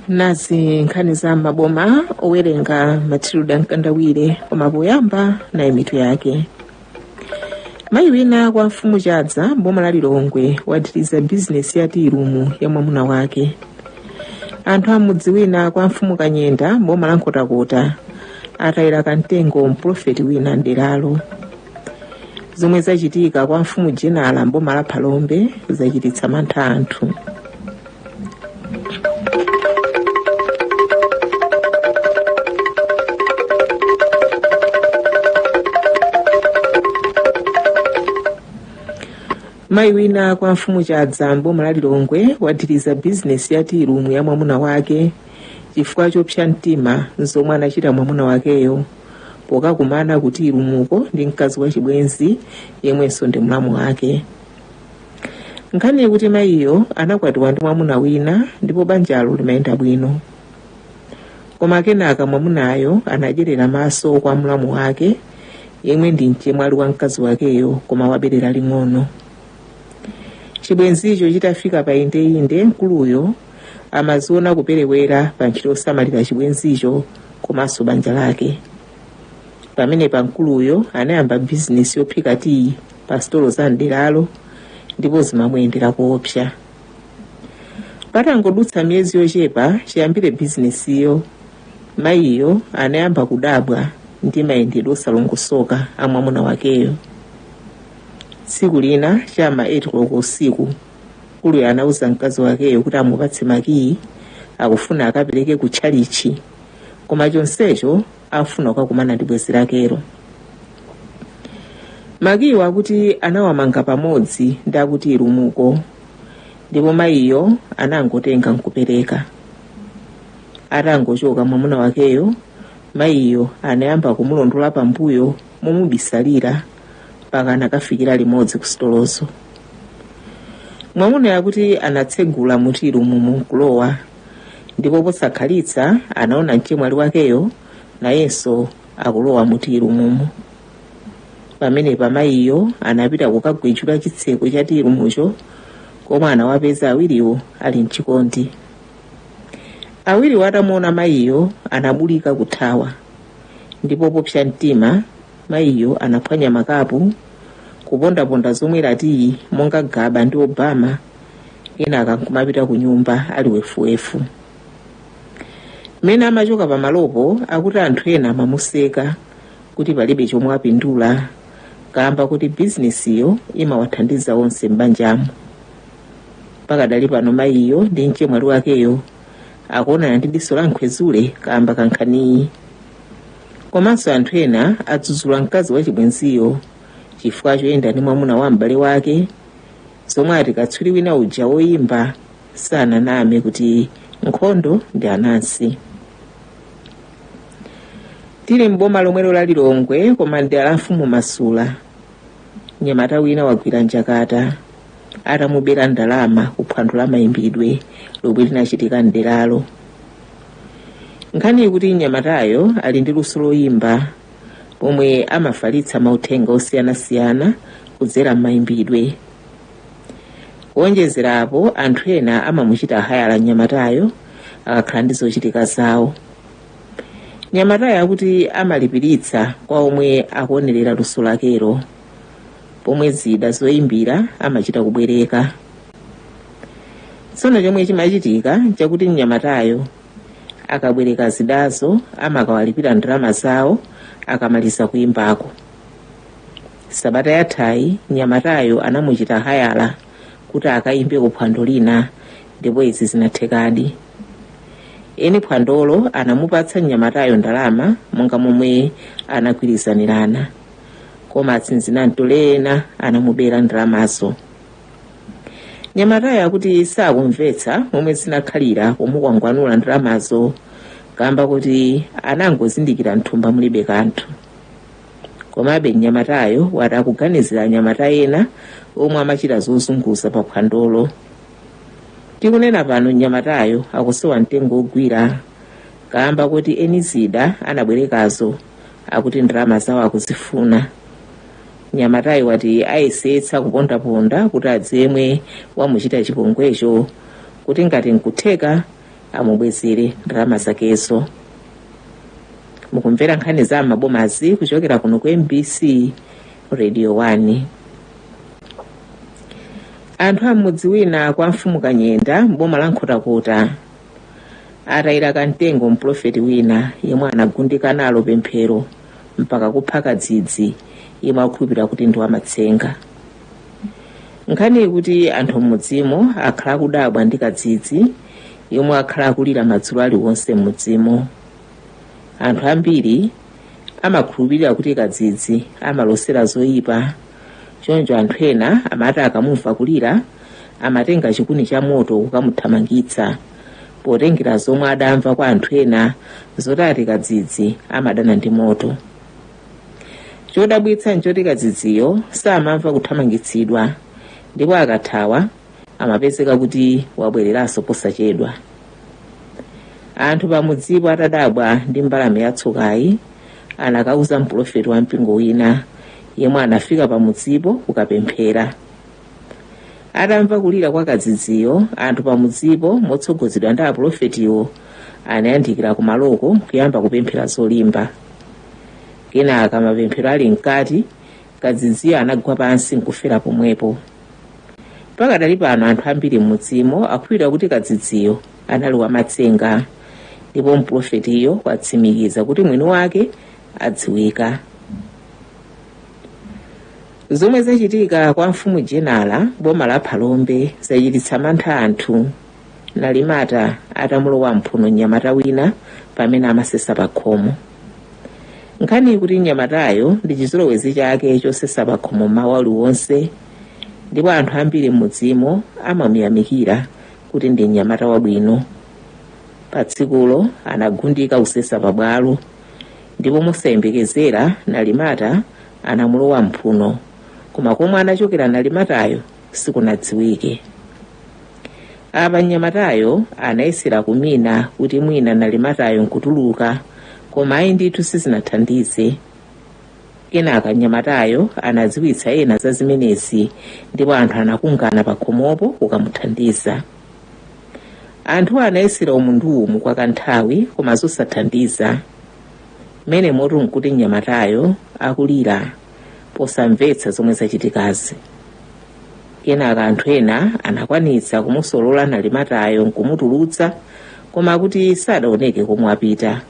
nazi nkhani za mmaboma owerenga matilda mkandawire koma poyamba nayi mitu yake mayi wina kwa mfumu chadza mboma la lilongwe wathiriza bizinesi ya tiirumu ya mwamuna wake anthu amudzi wina kwa mfumu kanyenda mboma la nkhotakota atayira kumtengo mprofeti wina mderalo zomwe zachitika kwa mfumu jenala mboma la phalombe zachititsa mantha anthu mayi wina kwa mfumu chadza mboma la lilongwe wathiriza bizinesi ya tiirumu ya mwamuna wake chifukwa chopsa mtima zomwe anachita mwamuna wakeyo pokakumana ku tiirumuko ndi mkazi wachibwenzi yemwenso ndi mlamu wake nkhani ikuti mayiyo anakwatiwa ndi mwamuna wina ndipo banjalo limayenda bwino koma kenaka mwamunayo anadyerera maso kwa mlamu wake yemwe ndi mchemwali wa mkazi wakeyo koma waberera ling'ono chibwenzicho chitafika pa indeinde mkuluyo amaziona kuperewera pa ntchito yosamalira chibwenzicho komanso banja lake pamenepa mkuluyo anayamba bizinesi yophika tiyi pa sitolo za mderalo ndipo zimamuyendera koopsa patangodutsa miyezi yochepa chiyambire bizinesiyo mayiyo anayamba kudabwa ndi mayendedwe osalongosoka a mwamuna wakeyo tsiku lina chama 8 koloko usiku Mkuluyo anauza mkazi wakeyo kuti amupatse makiyi akufuna akapereke ku tchalichi koma chonsecho afuna kukakumana ndi bwenzi lakelo makiyiwo akuti anawamanga pamodzi ndi a ku tiirumuko ndipo mayiyo anangotenga nkupereka atangochoka mwamuna wakeyo mayiyo anayamba kumulondola pambuyo momubisalira mpaka anakafikira limodzi ku sitolozo mwamunayo akuti anatsegula mu tiirumumo nkulowa ndipo posakhalitsa anaona mchemwali wakeyo nayenso akulowa mu tiirumumo pamenepa mayiyo anapita kukagwetchula chitseko cha tiirumucho koma anawapeza awiriwo ali mchikondi awiriwo atamuona mayiyo anabulika kuthawa ndipo popsa mtima Mayiyo anaphwanya makapu, kupondaponda zomwera tiyi monga Gaba ndi Obama kenaka nkumapita ku nyumba ali wefuwefu. Mmene amachoka pamalopo akuti anthu ena amamuseka kuti palibe chomwe apindula kamba kuti bizinesiyo imawathandiza onse m'banjamo. Pakadali pano mayiyo ndi mchemwali wakeyo akuonana ndi diso la nkhwezule kamba kankhaniyi. komanso anthu ena adzudzula mkazi wachibwenziyo chifukwa choyenda ndi mwamuna wa m'bale wake zomwe ati katswiri wina uja woyimba sananame kuti nkhondo ndi anansi tili m'boma lomwelo la lilongwe koma mdera la mfumu masula mnyamata wina wagwira njakata atamubera ndalama ku phwando la mayimbidwe lomwe linachitika mderalo nkhani ikuti mnyamatayo ali ndi luso loyimba pomwe amafalitsa mauthenga osiyanasiyana kudzera m'mayimbidwe kuonjezerapo anthu ena amamuchita hayala mnyamatayo akakhala ndi zochitika zawo mnyamatayo akuti amalipiritsa kwa omwe akuonerera luso lakelo pomwe zida zoyimbira amachita kubwereka tsono chomwe chimachitika chakuti mnyamatayo akabwereka zidazo amakawalipira ndalama zawo akamaliza kuyimbako sabata yathayi mnyamatayo anamuchita hayala kuti akayimbe ku phwando lina ndipo izi zinathekadi eni phwandolo anamupatsa mnyamatayo ndalama monga momwe anagwirizanirana koma atsinzinamtole ena anamubera ndalamazo mnyamatayo akuti sakumvetsa momwe zinakhalira pomukwangwanula ndalamazo kamba kuti anangozindikira mthumba mulibe kanthu komabe mnyamatayo wati akuganizira anyamata ena omwe amachita zozunguza pa phwandolo tikunena pano mnyamatayo akusowa mtengo ogwira kamba kuti eni zida anabwerekazo akuti ndalama zawo akuzifuna mnyamatayo wati ayesetsa kupondaponda kuti adziwe yemwe wamuchita chipongwecho kuti ngati nkutheka amubwezere ndalama zakezo mukumvera nkhani za m'mabomazi kuchokera kuno ku mbc radio 1 anthu a m'mudzi wina kwa mfumu kanyenda m'boma la nkhotakota atayira kamtengo mprofeti wina yemwe anagundika nalo pemphero mpaka kupha kadzidzi yemwe akukhulupirira kuti ndi wamatsenga nkhaniyi ikuti anthu m'mudzimo akhala akudabwa ndi kadzidzi yemwe akhala akulira madzulo aliwonse m'mudzimo anthu ambiri amakhulupirira kuti kadzidzi amalosera zoyipa choncho anthu ena amati akamumva kulira amatenga chikuni cha moto kukamuthamangitsa potengera zomwe adamva kwa anthu ena zoti ati kadzidzi amadana ndi moto chodabwitsa nchoti kadzidziyo samamva kuthamangitsidwa ndipo akathawa amapezeka kuti wabwereranso posachedwa anthu pamudzipo atadabwa ndi mbalame yatsokayi anakauza mpulofeti wa mpingo wina yemwe anafika pamudzipo kukapemphera atamva kulira kwa kadzidziyo anthu pamudzipo motsogozedwa ndi apulofetiwo anayandikira kumaloko kuyamba kupemphera zolimba kenaka mapemphero ali mkati kadzidziyo anagwa pansi nkufera pomwepo pakadali pano anthu ambiri m'mudzimo akukhulupirira kuti kadzidziyo anali wamatsenga ndipo mprofetiyo watsimikiza kuti mwini wake adziwika zomwe zachitika kwa mfumu jenala boma la phalombe zachititsa mantha anthu nalimata atamulowa m'mphuno mnyamata wina pamene amasesa pakhomo nkhaniyi ikuti mnyamatayo ndi chizolowezi chake chosesa pakhomo m'mawa uliwonse ndipo anthu ambiri m'mudzimo amamuyamikira kuti ndi mnyamata wabwino pa tsikulo anagundika kusesa pabwalo ndipo mosayembekezera nalimata anamulowa m'mphuno koma komwe anachokera nalimatayo sikunadziwike apa mnyamatayo anayesera kumina kuti mwina nalimatayo nkutuluka koma ayi ndithu sizinathandize kenaka mnyamatayo anadziwitsa ena za zimenezi ndipo anthu anakhungana pa khomopo kukamuthandiza anthu anayesera umu ndi umu kwa kanthawi koma zosathandiza m'menemotu nkuti mnyamatayo akulira posamvetsa zomwe zachitikazi kenaka anthu ena anakwanitsa kumusolola nalimatayo nkumutulutsa koma akuti sadaoneke komwe wapita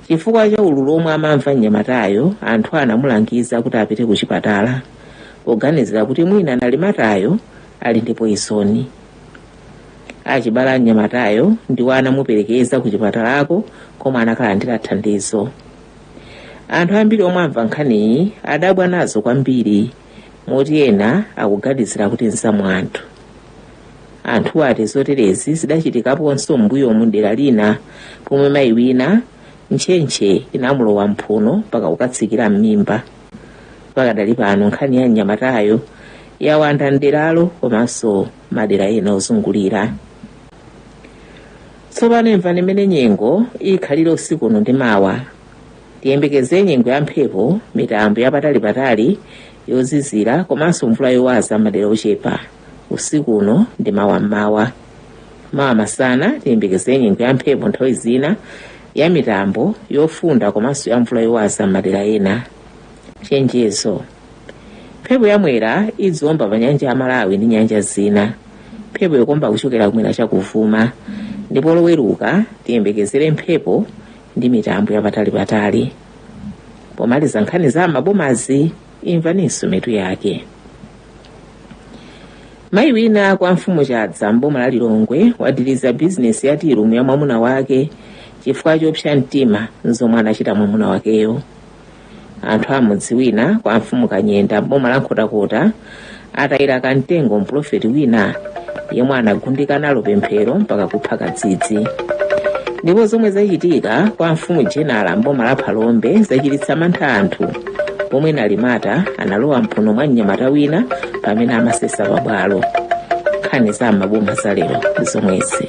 chifukwa cha ululu omwe amamva mnyamatayo anthu anamulangiza kuti apite ku chipatala poganizira kuti mwina nalimatayo ali ndi poizoni achibala a mnyamatayo ndiwo anamuperekeza ku chipatalako komwe anakalandira thandizo anthu ambiri omwe amva nkhaniyi adabwa nazo kwambiri moti ena akuganizira kuti nzaumunthu anthu ati zoterezi zidachitikaponso m'mbuyomu dera lina pomwe mayi wina ntchentche inamulowa mphuno mpaka kukatsikira m'mimba pakadali pano nkhani ya mnyamatayo yawanda mderalo komanso madera ena ozungulira tsopano imvani mmene nyengo ikhalire usiku uno ndi mawa tiyembekezere nyengo ya mphepo mitambo yapatalipatali yozizira komanso mvula yowaza m'madera ochepa usiku uno ndi mawa mmawa mawa masana tiyembekezere nyengo ya mphepo nthawi zina ya mitambo yofunda komanso ya mvula yowaza m'madera ena chenjezo mphepo yamwera idziomba pa nyanja ya malawi ndi nyanja zina mphepo ikuomba kuchokera kumwera chakuvuma ndipo loweruka tiyembekezere mphepo ndi mitambo yapatalipatali pomaliza nkhani za m'mabomazi imvaninso mitu yake mayi wina kwa mfumu chadza mboma la lilongwe wathiriza bizinesi ya tearoom ya mwamuna wake chifukwa chopsa mtima nzomwe anachita mwamuna wakeyo anthu a mudzi wina kwa mfumu kanyenda m'boma la nkhotakota atayira kamtengo mpulofeti wina yemwe anagundika nalo pemphero mpaka kupha kadzidzi ndipo zomwe zachitika kwa mfumu jenala m'boma la phalombe zachititsa mantha anthu pomwe nalimata analowa mphuno mwa mnyamata wina pamene amasesa pabwalo nkhani za m'maboma za lero ndi zomwezi